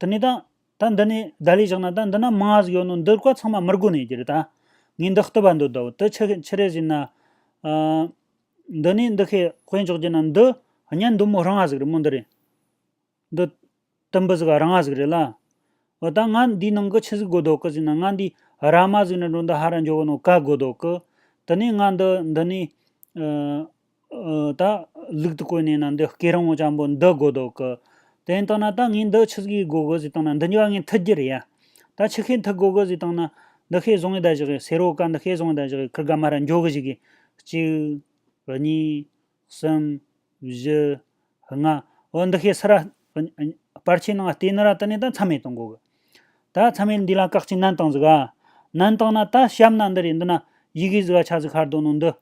དེ་ནས་དང། ད་འདི་ནས་བརྡ་ལས་བཞག་ན་ད་འདི་ན་མང་ང་ཟིག་ཡོད་ནོ་འདིར་བཀའ་ཚང་མ་མིར་དགོས་ནས་ཀྱི་རེད་ད། ངས་འདི་བསྟོད་པ་འདོད་དོ་དེ་ཕྱི་ཕྱི་རེ་བཞིན་ན། འདི་ནས་འདི་ཤེས་དཔེ་འཇོག་རྒྱུ་ན་འདི། གཉེན་འདུན་མོ་རང་ང་ཟིག་རེད་མོ་འདི་རེད། འདི། དེ་འབུ་ཟིག་ཨ་ར་ང་ཟིག་རེད་ལ། འོ་ད་ང་འདིའི་ནང་གི་ཕྱི་ཟིག་དགོས་དོ་ཀི་ཟིག་ན་ང་འདིའི་ཨ་ར་མ་ཟིག་ནས་འགྲོ་འདི་ཧ་ར་འཇོག་གི་ནོ་ཀ་དགོས་དོ་ཀི། དེ་ནས་ང་འདི་འདི་ནས། ད། ལུག་ཏུ་བཀོད་ནས་ན་འདི་སྐེ་རིང་བོ་ཅང་པོ་འདི་དགོ་དོ་ཀི། དེ་ནས་བཏང་ན་ད་ངས་འདི་ཆུ་ཟིག་གིས་དགོ་གི་ཟིག་བཏང་ན་འདི་འགྱོ་བ་ངས་འཐུ་རྒྱུ་རེད་ཡ། ད་ཆུ་ཤེལ་འཐུ་དགོ་གི་ཟིག་བཏང་ན། འདི་ཤེལ་བཟུང་གི་ད་ཞིག་གི་ཟེ་རོ་ཀ་འདི་ཤེལ་བཟུང་གི་ད་ཞིག་གི་ཁུར་དགའ་མ་ར་འགྱོ་གི་ཞིག་གི། གཅིག། གཉིས། གསུམ། བཞི། ལྔ། འོ་འདི་ཤེས་སི་ར། སྤར་ཆའི་ནང་ལྟེ་ནི་ར་ཏི་ནས་ད་མཚམས་མེད་དུ་འགོག་གི། ད་མཚམས་མེད་འདི་ལ་བཀག་ཅིང་ནན་བཏང་ཟིག་ཨ། ནན་བཏང་ན་ད་ཞབས་ན་འདི་རེད་འདི་ན་ཡི་གེ་ཟི་ག་ཆ་ཟི་ཁར་འདོག་ནོ་འདི།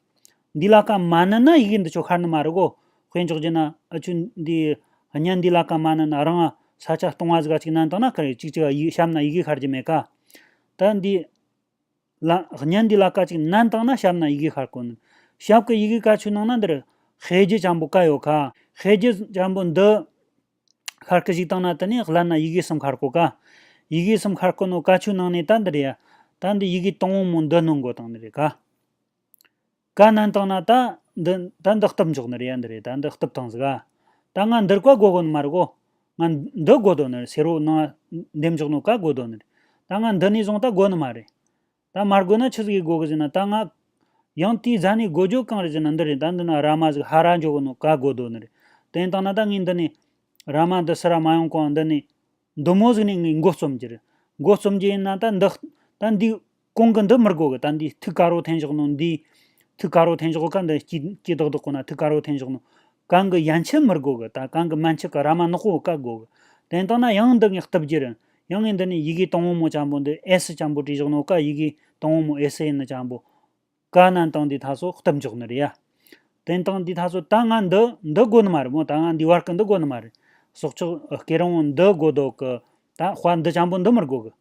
འདི་ལ་བཀའ་མ་ནན་ན་ཡི་གེ་འདི་ཆོ་ཁར་ནི་མ་རིག་གོ། དཔེ་འཇོག་རྒྱུ་ན་ཨ་ཆུ་འདི། གཉན་འདི་ལ་བཀའ་མ་ནན་ན་རང། ས་ཆ་སྟོང་བ་ཟི་ག་ཅིག་ནན་བཏང་ན་ག་རེ་གཅིག་ཅིག་ཡི་ཞབས་ན་ཡི་གེ་ཁར་གྱི་མེད་ཀ། ད་འདི། ལ། བརྙན་འདི་ལ་ཀ་ཅིག་ནན་བཏགས་ན་ཞབས་ན་ཡི་གེ་ཤར་གོ། ཞབས་ཀྱི་ཡི་གེ་ཀ་ཆུ་ནང་ན་འདིར། ཤེས་རྒྱུད་ཆེན་པོ་ཀ་ཡོད་ཁ། ཤེས་རྒྱུད་ཆེན་པོ་འདི། ཤར་ཀི་ཞིག་བཏགས་ན་དེ་ནས་སླད་ན་ཡི་གེ་གསུམ་ཤར་གོ་ཀ། ཡི་གེ་གསུམ་ཤར་གོ་ནོ་ཀ་ཆུ་ནང་ནས་ད་འདིར་ཡ། ད་འདི་ཡི་གེ་སྟོང་བོ་མོ་འདི་སྣང་གོ་དང་འདིར་ཡ་ཀ། ག་ནན་བཏང་ན་ད་འདི་ད་འདི་སྟབས་མགྱོགས་ནི་རེད་ཡ་འདི་རེད་ད་འདི་སྟབས་ཐང་ཟིག་ཨ། ད་ང་འདིར་ག་དགོ་དགོ་ནི་མ་རེད་གོ། ང་འདི་དགོ་དོ་ནི་རེད་ཟེར་རོ་ནང་འདེམས་མགྱོགས་ནི་ག་དགོ་དོ་ནི་རེད། ད་ང་འདི་ནས་བཟུང་ད་དགོ་ནི་མ་རེད། ད་མར་དགོས་ན་ཆི་ཟིག་གིས་དགོ་གི་ཟིག་ན་ད་ང། ཡང་དེའི་རྫ་ནས་དགོ་རྒྱུ་གང་རེད་ཟེར་ན་འདི་རེད་ད་འདི་ན་ར་མ་ཟིག་ཧ་ར་མགྱོགས་གི་ནི་ག་དགོ་དོ་ནི་རེད། དེ་བཏང་ན་ད་ངས་འདི་ནས། ར་མ་འདི་སི་ར་མ་ཡོང་གོང་འདི་ནས། མདོ་མོ་གཟིགས་ནས་ངའི་མགོ་རྩོམ་གྱིར། མགོ་རྩོམ་གྱི་ཡིན་ན་ད་འདི། ད་འདི། གོང་གི་འདི་མི་རྒོལ་གི་ད་འདིའི་ཐུགས་ཀ་རོ་འཐེན་ཞོག་ནོ་འདིའི། ཐུགས་ཀ་རོ་འཐེན་ཞོག་ག་འདི་སྐྱིད་སྐྱིད་དག་དག་གོ་ན་ཐུགས་ཀ་རོ་འཐེན་ཞོག་ནོ། གང་གི་ཡན་ཆད་མི་རྒོལ་གི་ད་གང་གི་མན་ཆད་གི་ར་མ་ནག་པོ་བཀག་དགོས་གི། དེ་ལྟ་ན་ཡང་འདི་ངས་གཏུབ་གྱིར། ཡང་ངས་འདི་ནས་ཡི་གེ་དང་བོ་མོ་གཅམ་པོ་འདི་ཨེ་སི་གཅམ་པོ་བྲིས་ཞོག་ནོ་ག་ཡི་གེ་དང་བོ་མོ་ཨེ་སི་ཡིན་ནི་གཅམ་པོ། དཀའ་ན་སྟངས་འདི་ད་སོ་སྟབས་འཇོག་ནི་རེད་ཡ། དེ་སྟངས་འདི་ད་སོ་ད་ང་འདི་འདི་དགོ་ནི་མ་རེད་མོ་ད་ང་འདི་བར་གི་འདི་དགོ་ནི་མ་རེད། སྲོག་ཆགས་སྐེ་རིང་བོ་འདི་དགོ་དོ་གི། ད་དཔའ་འདི་ཅམ་པོ་འདི་མི་དགོ་གི།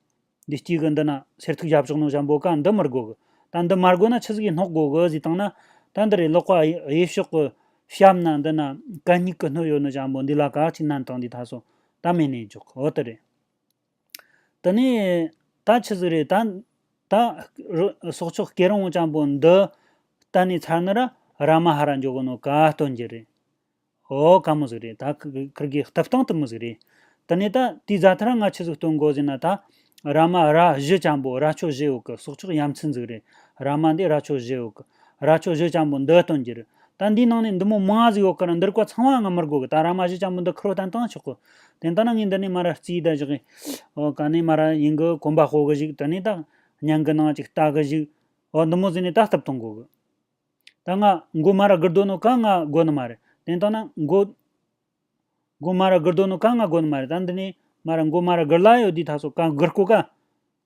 འདི་སྐྱིད་གི་འདི་ན་སེར་ཐུག་ཞབས་ཕྱོགས་ནོ་ཞབས་འབོ་ཀ་འདི་མི་དགོ་གི། ད་འདི་མ་དགོ་ན་ཆུ་ཟིག་གི་སྣོག་དགོ་གི་ཟིག་བཏང་ན། ད་འདི་རེད་ལོག་པ་གཡས་ཕྱོགས་གི་ཞབས་ན་འདི་ན་གད་སྙིགས་གི་སྣོད་ཡོད་ནི་ཅམ་པོ་འདི་ལ་ག་ཅིག་ན་སྟངས་འདི་ད་སོ་ད་མེད་ནས་འཇོག་འོ་དེ་རེད། དེ་ནས། ད་ཆི་ཟིག་རེད་ད། ད། སྲོག་ཆགས་སྐྱེ་རིང་ལྕམ་པོ་འདི། གཏན་ནས་ཚར་ནི་ར། ར་མ་ཧ་ར་འཇོག་གི་ནོ་ག་སྟོན་གྱི་རེད། ཨོ་ག་མོ་ཟིག་རེད་ད། ཁིར་གི་ལྟབ་སྟང་དུ་མི་ཟིག་རེད། དེ་ནས་ད། དེའི་རྫ་ཐ་ར་ང་ཆི་ཟིག་སྟོན་གོ་ཟིག་ན་ད། ར་མ་ར་བཞི་ལྕམ་པོ་ར་ཆོ་བཞི་ཡོག་གི་སྲོག་ཆགས་ཡམ་ཆི་ཟིག་རེད། ར་མ་འདི་ར་ཆོ་བཞི་ཡོག་གི། ར་ཆོ་བཞི་ལྕམ་པོ་འདི་སྟོན་གྱི་རེད། ད་འདིའི་ནང་ནས་འདི་མོ་མ་ཟིག་ཡོག་གི་ར་འདིར་གོ་ཚང་མ་ང་མིར་གོ་གི་ད་ར་མ་བཞི་ལྕམ་པོ་འདི་ཁིར་བོ་ཏན་ཏང་ཆོག་གི། དེ་ལྟ་ན་ངས་འདི་ནས་སྨྲ་ར་རྩིས་ད་བཞག་གི། ཨོ་ག་ནས་སྨྲ་ར་ཡིན་གི་གོམ་པ་སྤོ་གི་ཞིག་དེ་ནས་ད་སྙན་གི་ནང་ཅིག་བལྟ་གི་ཞིག། ཨོ་འདི་མོ་ཟིན་ནས་ད་སྟབས་ཐོང་གོ་གི། ད་ང་མགོ་སྨྲ་ར་དགུར་འདོན་ནོ་ག་ང་དགོ་ནི་མ་རེད་དེ་ལྟ་ན་མགོ། མགོ་སྨྲ་ར་དགུར་འདོན་ནོ་ག་ང་དགོ་ནི་མ་རེད་ད་འདི་ནས་སྨྲ་ར་མགོ་སྨྲ་ར་དགུར་ལ་ཡོད་དུས་ད་སོ་ག་དགུར་སྐོ་ག།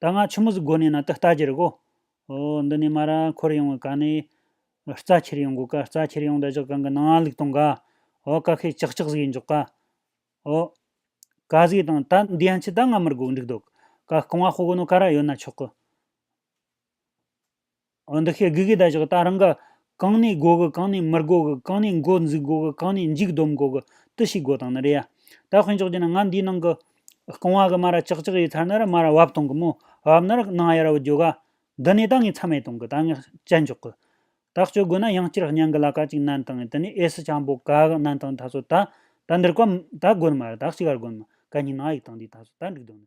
ད་སྔ་ཆུ་མུ་ཟི་དགོ་ནས་ན་དུ་ལྟ་གྱི་རིག་གོ། ཨོ། འདི་ནས་མ་ར་འཁོར་ཡོང་བའི་ག་ནི། རྩ་ཁྱེར་ཡོང་དགོས་ཀ་རྩ་ཁྱེར་ཡོང་བདག་ཅག་གང་གི་ནང་ལུག་དང་ག། ཨོ་ཀ་ཁས་ཅག་ཅག་ཟིག་ཡིན་འཇོག་ག། ཨོ། ག་ཟིག་དང་ད་འདི་ཡང་ཆི་ད་སྔ་མིར་དགོག་འགྲིག་འདུག་ག་རྐང་བ་སྤོ་དགོས་ནོ་ག་ར་ཡོད་ན་ཆོག་གི། འོ་འདི་ཤེས་དགོས་གི་ད་ཅག་ད་རང་ག། གང་ནས་དགོ་གི་གང་ནས་མིར་དགོ་གི་གང་ནས་མགོ་འཛུགས་དགོ་གི་གང་ནས་འཇིགས་སྡོམ་དགོ་གི་དི་ཞིག་དགོ་དང་ནི་རེད་ཡ། ད་དཔོན་ཅོག་གྱི་ནི་ང་འདིའི་ནང་གི། རྐང་བ་གི་མ་ར་ཅག་ཅག་ཡི་ཚར་ན་ར་མ་ར་བབ་གཏོང་གི་མོ། བབ་ན་ར་ནང་ཡ་ར་བུ་རྒྱོ་ག། འདི་ནས་ད་ངས་ཚ་མེད་གཏོང་གི་ད་ངས་བཅད་འཇོག་གི། ད་སྤྱོད་དགོས་ན་ཡང་སྤྱིར་གཉན་གི་ལ་ཀ་ཅིག་ནན་དང་ངས་དི་ནས་ཨེ་སི་ཆང་པོ་ག་གི་ནན་དང་ད་སོ་ད། ད་འདིར་བཀའ། ད་དགོ་ནི་མ་ར་ད་གཅིག་ག་ར་དགོ་ནི་མ་ག་གཉིས་ནང་ཡིག་དང་འདིའི་ད་སོ་ད་འགྲིག་དོ་ནི།